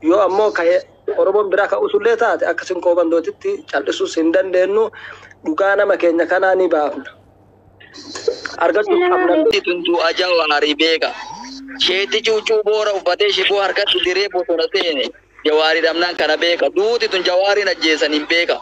Yoo ammoo kahe Oromoon biraa ka usullee taate akka Sinqoo Bandootitti cal'isuus hin dandeennu. Dhugaa nama keenya kanaa ni baafna. Argachuus qabna. Ati tuntuu aja waarii beeka. Sheetti cuuccuu boora uffatee shiboo harkatti diree bosona seene. Jawaari dhabnaan kana beeka. Duuti tun Jawaariin ajjeesaniin beeka.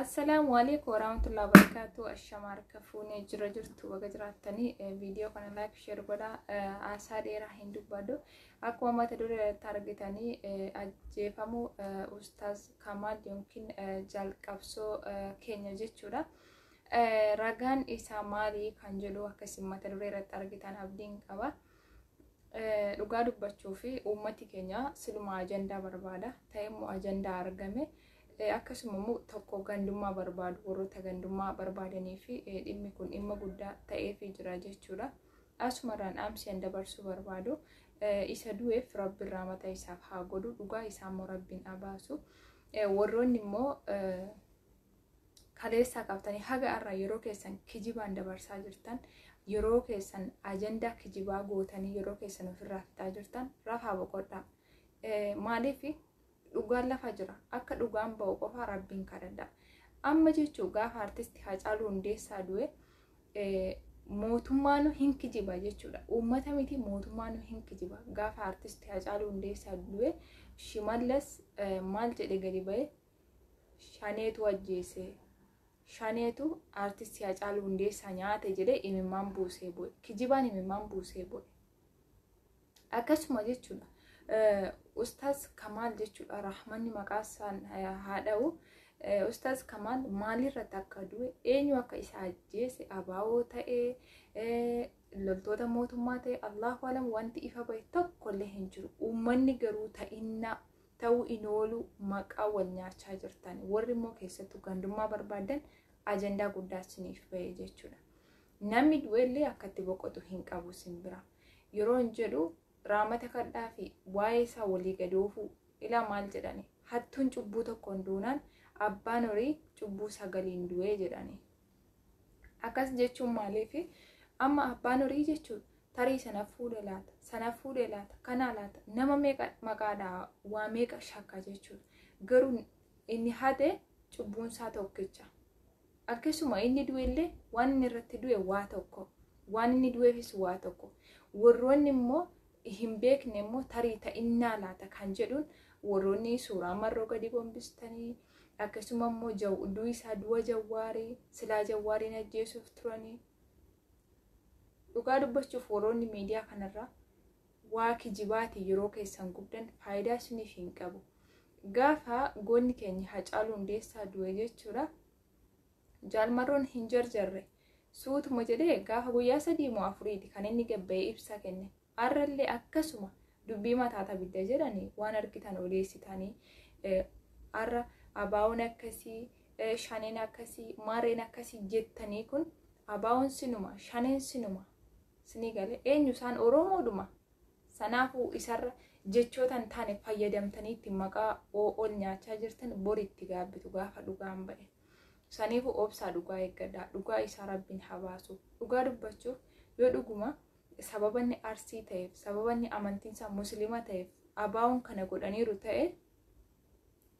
Assalaamu alaikum warahmatullahi wabarakatuh. Ashamaa harka fuunee jira jirtu baga jiraattanii viidiyoo kana laayik sheer godhaa haasaa dheeraa hin dubbadhu. Akkuma mata duree irratti argitanii ajjeefamuu ustaaz Kamaal yookiin jalqabsoo keenya jechuudha. Ragaan isaa maali kan jedhu akka isin mata duree irratti argitan abdiin qaba. Dhugaa dubbachuu fi uummati keenya siluma ajandaa barbaada. Ta'e immoo ajandaa argame. Akkasuma immoo tokko gandummaa barbaadu warroota gandummaa barbaadanii fi dhimmi kun dhimma guddaa ta'eefii jira jechuudha. Asumarraan dhaamsiyan dabarsuu barbaadu. Isa du'eef rabbiin raamata isaaf haa godhu. Dhugaa isaa immoo rabbiin abaasu. Warroonni immoo kaleessaa qabatanii haga har'aa yeroo keessan kijibaan dabarsaa jirtan yeroo keessan ajandaa kijibaa gootanii yeroo keessan ofirraa fixaa jirtan rafaa boqodhaa maaliif dhugaan lafa jira akka dhugaan ba'u qofaa rabbiin kadhadha amma jechuu gaafa artisti Hacaaluu Hundeessaa du'e mootummaanu hin kijiba jechuudha. Uummata miti mootummaanu hin kijiba. Gaafa artisti Hacaaluu Hundeessaa du'e Shimallas maal jedhe gadi ba'e Shaneetu ajjeese. Shaneetu aartistii Hacaaluu Hundeessaa nyaate jedhee imimmaan buusee bu'e. Kijibaan imimmaan buusee bu'e. Akkasuma jechuudha. Ustaaz Kamaal jechuudha. Rahmanni maqaa isaan haa dha'u. Ustaaz Kamaal maalirratti akka du'e eenyu akka isa ajjeese abaaboo ta'ee loltoota mootummaa ta'e Allahu alam wanti ifa bahe tokkollee hin jiru. Uummanni garuu ta'innaa ta'uu in oolu maqaa wal nyaachaa jirtan warri immoo keessattuu gandummaa barbaadan ajandaa guddaa isiniif ba'e jechuudha. Namni du'ellee akka itti boqotu hin qabu isin bira. Yeroo hin jedhu raamata kadhaa fi waa'ee isaa walii gadi oofuu ilaa maal jedhani hattuun cubbuu tokkoon duunaan abbaan horii cubbuu sagaliin du'ee jedhani. Akkas jechuun maaliifi? Amma abbaan horii jechuun tarii sana fuudhe laata, sana fuudhe laata, kanaa laata, nama meeqa maqaadhaa waa meeqa shakka jechuudha. Garuu inni hate cubbuunsaa tokkicha. Akkasuma inni du'ellee waan inni irratti du'e waa tokko. Waan inni du'eefis waa tokko. Warroonni immoo hin beekne immoo tarii ta'innaa laata kan jedhuun warroonni suuraa marroo gadi gombistanii akkasuma immoo du'a isaa du'a jawwaarii silaa jawwaariin ajjeesuuf turanii dhugaa dubbachuuf warroonni miidiyaa kanarraa waa kijibaati yeroo keessan gubdan faayidaa isiniif hin qabu gaafa goonni keenya hacaaluu hundeessaa du'e jechuudha Jaal Marroon hin jarjarre. Suutuma jedhee gaafa guyyaa sadii moo afuriiti kan inni gad ba'ee ibsa kenne. Har'allee akkasuma dubbii mataata bidda jedhanii waan argitan odeessitanii har'a abaawoon akkasii shaneen akkasii mareen akkasii jettanii kun abaawoon sinuma shaneen sinuma sinii galee eenyu isaan oromoodhuma sanaafuu isarra jechoota hin taane fayyadamtanii itti maqaa ol nyaachaa jirtan boritti gaabbitu gaafa dhugaan ba'e. Saniifuu obsaa dhugaa eeggadhaa. Dhugaa isaa rabbiin haa baasu. Dhugaa dubbachuuf yoo dhuguma sababanni arsii ta'eef sababanni amantiinsaa muslima ta'eef abaa'oon kana godhaniiru ta'e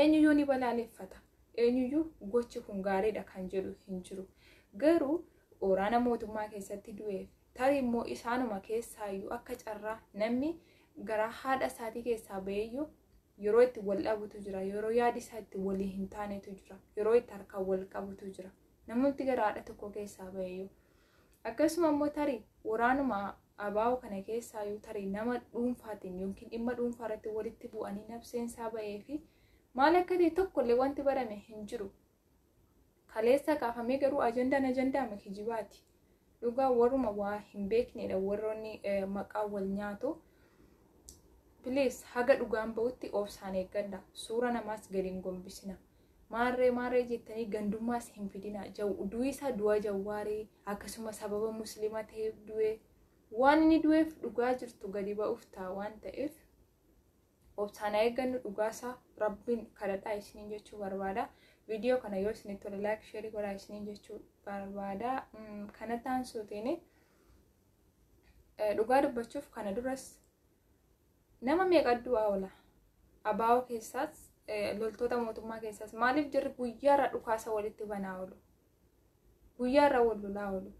eenyuyyuu ni balaaleffata. Eenyuyyuu gochi kun gaariidha kan jedhu hin jiru. Garuu waraana mootummaa keessatti du'eef Tarii immoo isaanuma keessaayyuu akka carraa namni garaa haadha isaatii keessaa ba'eeyyuu yeroo itti wal dhabutu jira. Yeroo yaadi isaa itti walii hin taanetu jira. Yeroo itti harkaan wal qabutu jira. Namooti gara haadha tokko keessaa ba'eeyyuu. Akkasuma immoo tarii waraanuma abaa'oo kana keessaayyuu tarii nama dhuunfaatiin yookiin dhimma dhuunfaa irratti walitti bu'anii nabseen isaa ba'ee fi maal akka ta'e tokkollee wanti barame hin jiru. Kaleessa kaafamee garuu ajandaan ajandaama kijibaati. Dhugaa warruma waa hin beeknedha warroonni maqaa wal nyaatu. Please haga dhugaan ba'utti obsaan eeggadha. Suura namaas gadi hin gombisina. Maarree maarree jettanii gandummaas hin fidina. Du'i isaa du'a jawwaarii akkasuma sababa musliima ta'eef du'e. Waan inni du'eef dhugaa jirtu gadi ba'uuf ta'a waan ta'eef. Obsaan haa eeggannu dhugaasaa rabbiin kadhadhaa isiniin jechuu barbaada. Viidiyoo kana yoo isinitti tole laayik sheerii godhaa isiniin jechuu barbaada. Kana taansuutiin dhugaa dubbachuuf kana duras nama meeqa du'aa oola. Abaa'oo keessaas loltoota mootummaa keessaas maaliif jirri guyyaarra dhukaasa walitti banaa oolu? Guyyaarra wal lolaa oolu.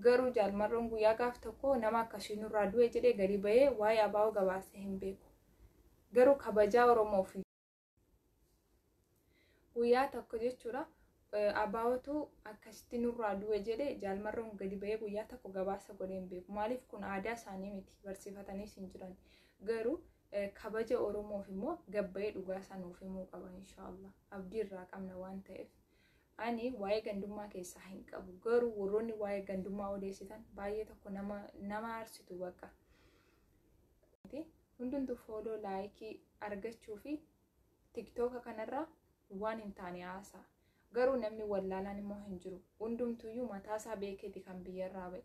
Garuu Jaal Marroon guyyaa gaaf tokko nama akkasii nurraa du'e jedhee gadi bahee waa'ee ABO gabaasee hin beeku. Garuu kabajaa Oromoof. Guyyaa tokko jechuudha ABOtu akkasitti nurraa du'e jedhee Jaal Marroon gadi bahee guyyaa tokko gabaasa godhee hin beeku. Maaliif kun aadaa isaanii miti barsiifataniis hin jiran. Garuu kabaja Oromoof immoo gabbayee dhugaa isaa nuuf himuu qaba inshaallah. Abdii irraa qabna waan ta'eef. Ani waa'ee gandummaa keessaa hin qabu garuu warroonni waa'ee gandummaa odeessitan baay'ee tokko nama nama aarsitu bakka. Hundumtu fooloo laayikii argachuu fi tiktooka kanarraa waan hin taane haasaa. Garuu namni wallaalaan immoo hin jiru. Hundumtuyyuu mataasaa beekeeti kan biyyarraa ba'e.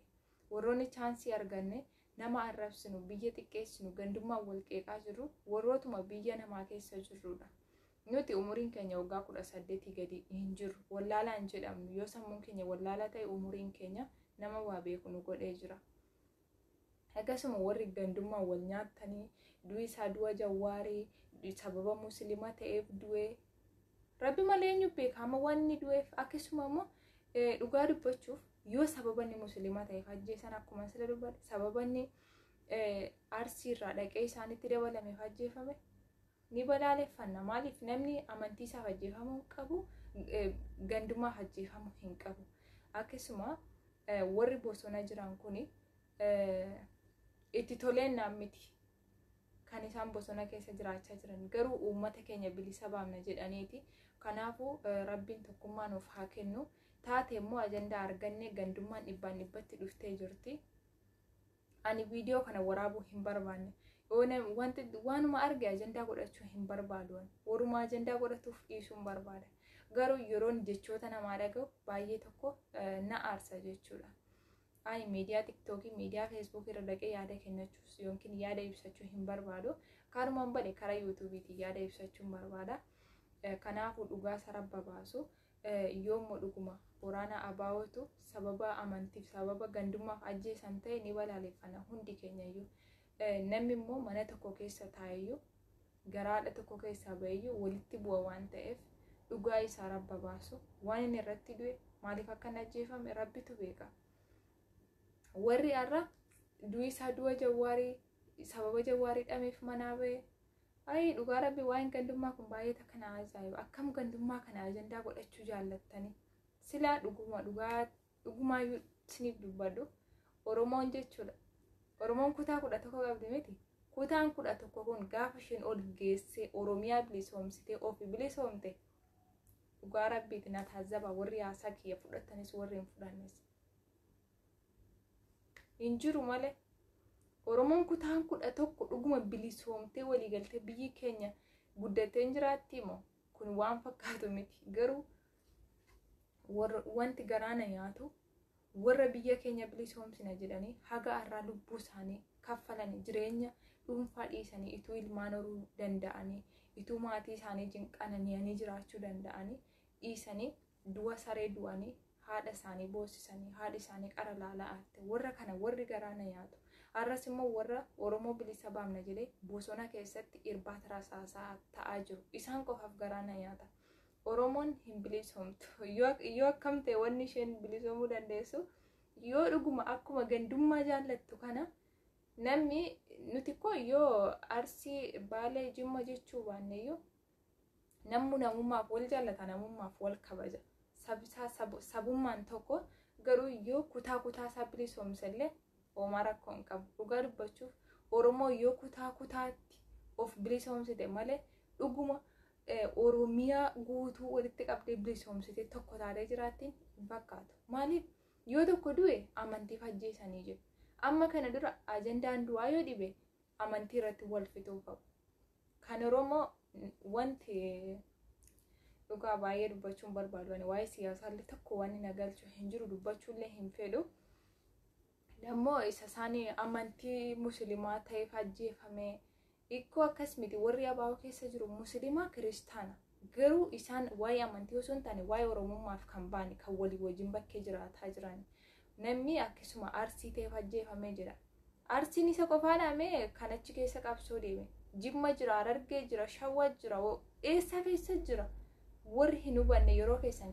Warroonni chaansii arganne nama arrabsinu, biyya xiqqeessinu, gandummaan wal qeeqaa jirru warrootuma biyya namaa keessa jirrudha. Nuti umuriin keenya waggaa kudha saddeetii gadi hin jirru. Wallaalaa hin jedhamnu. Yoo sammuun keenya wallaalaa ta'e umuriin keenya nama waa beeku nu godhee jira. Akkasuma warri gandummaa wal nyaattanii du'i isaa du'a jawwaarii sababa musliima ta'eef du'ee rabbi malee eenyu beeka amma waan inni du'eef akkasuma immoo dhugaa dubbachuuf yoo sababa inni musliima ta'eef ajjeesan akkuma sila dubbadhe sababa inni arsiirraa dhaqee isaanitti dabalameef ajjeefame ni balaaleffanna maaliif namni amantii isaaf ajjeefamuu hin qabu gandumaaf ajjeefamuu hin qabu akkasuma warri bosona jiran kun itti toleen naan miti kan isaan bosona keessa jiraachaa jiran garuu uummata keenya bilisa baamna jedhaniiti kanaafuu rabbiin tokkummaa nuuf haa kennu taate immoo ajandaa argannee gandummaan dhibbaan dhibbatti dhuftee jirti. Ani viidiyoo kana waraabuu hin barbaanne. Wanti waanuma arge ajandaa godhachuu hin barbaadu. Waruma ajandaa godhatuuf dhiisuun barbaada. Garuu yeroon jechoota namaa dhaga'u baay'ee tokko na aarsa jechuudha. Ani miidiyaa tiktookii, miidiyaa feesbuukii irra dhaqee yaada kennachuus yookiin yaada ibsachuu hin barbaadu. Kanumaan bade karaa yuutuubiitiin yaada ibsachuun barbaada. Kanaafuu dhugaa sarara baasu. Yoommo dhuguma Booraana Abaawootu sababa amantiif sababa gandummaaf ajjeesan ta'e ni balaaleffanna hundi keenyayyuu. Namni immoo mana tokko keessa taa'eyyuu garaa haadha tokko keessaa ba'eyyuu walitti bu'a waan ta'eef dhugaa isaa rabba baasu waan inni irratti du'e maaliif akka hin ajjeefame rabbitu beeka. Warri har'a du'isaa du'a jawwaarii sababa jawwaar hidhameef manaa ba'e ayii dhugaa rabbi waa'een gandummaa kun baay'ee takka na ajaa'iba akkam gandummaa kana ajandaa godhachuu jaallattanii silaa dhuguma dhugaa dhugumaayyuu isiniif dubbadhu oromoon jechuudha oromoon kutaa kudha tokko qabdi miti kutaan kudha tokko kun gaafa isheen ol geessee oromiyaa bilisoomsitee ofi bilisoomte dhugaa rabbiiti na taazzaba warri haasaa kiyya fudhatanis warri hin fudhannes hin jiru malee Oromoon kutaan kudha tokko dhuguma bilisoomtee walii galtee biyyi keenya guddattee hin jiraattii moo kun waan fakkaatu miti garuu wanti garaana nyaatu warra biyya keenya bilisoomsina jedhanii haga har'aa lubbuu isaanii kaffalanii jireenya dhuunfaa dhiisanii ituu ilmaan horuu danda'anii ituu maatii isaanii wajjin qanani'anii jiraachuu danda'anii dhiisanii Du'a saree du'anii haadha isaanii boossisanii haadhi isaanii qara laala aarte warra kana warri garaa na nyaatu har'as immoo warra oromoo bilisa baamna jedhee bosona keessatti irbaata rasaasaa ta'aa jiru isaan qofaaf garaa na nyaata oromoon hin bilisoomtu yoo akkam ta'e wanni isheen bilisoomuu dandeessu yoo dhuguma akkuma gandummaa jaallattu kana namni nuti koo yoo arsii baalee jimma jechuu baanneyyuu Nammu namummaaf wal jaallata, namummaaf wal kabaja. Sabisaa sab- sabummaan tokko garuu yoo kutaa kutaa isaa bilisoomse illee homaa rakkoo hin qabu. Dhugaa dubbachuuf Oromoo yoo kutaa kutaatti of bilisoomsite malee dhuguma eh, Oromiyaa guutuu walitti qabdee bilisoomsite tokko taatee jiraattiin hin fakkaatu. Maaliif? Yoo tokko du'e amantiif ajjeesanii jiru. Amma kana dura ajandaan du'aa yoo dhibe amantii irratti wal fixuu qabu. Kan Oromoo wanti dhugaa baay'ee dubbachuun barbaadu ani waa'ee siyaasaallee tokko waan na galchu hin jiru dubbachuullee hin fedhu. Dammoo isa isaanii amantii musliimaa ta'eef ajjeefame ikkoo akkas miti warri abaa'oo keessa jiru musliimaa kiristaana. Garuu isaan waa'ee amantii osoo hin taane waa'ee Oromummaaf kan ba'an kan walii wajjin bakkee jiraataa jiran. Namni akkasuma Arsii ta'eef ajjeefamee jira. Arsiin isa qofaadhaa mee kan achi keessa qabsoo deeme. Jimma jira, Harargee jira, Shawwa jira, eessa keessa jira. Warri hin hubanne yeroo keessan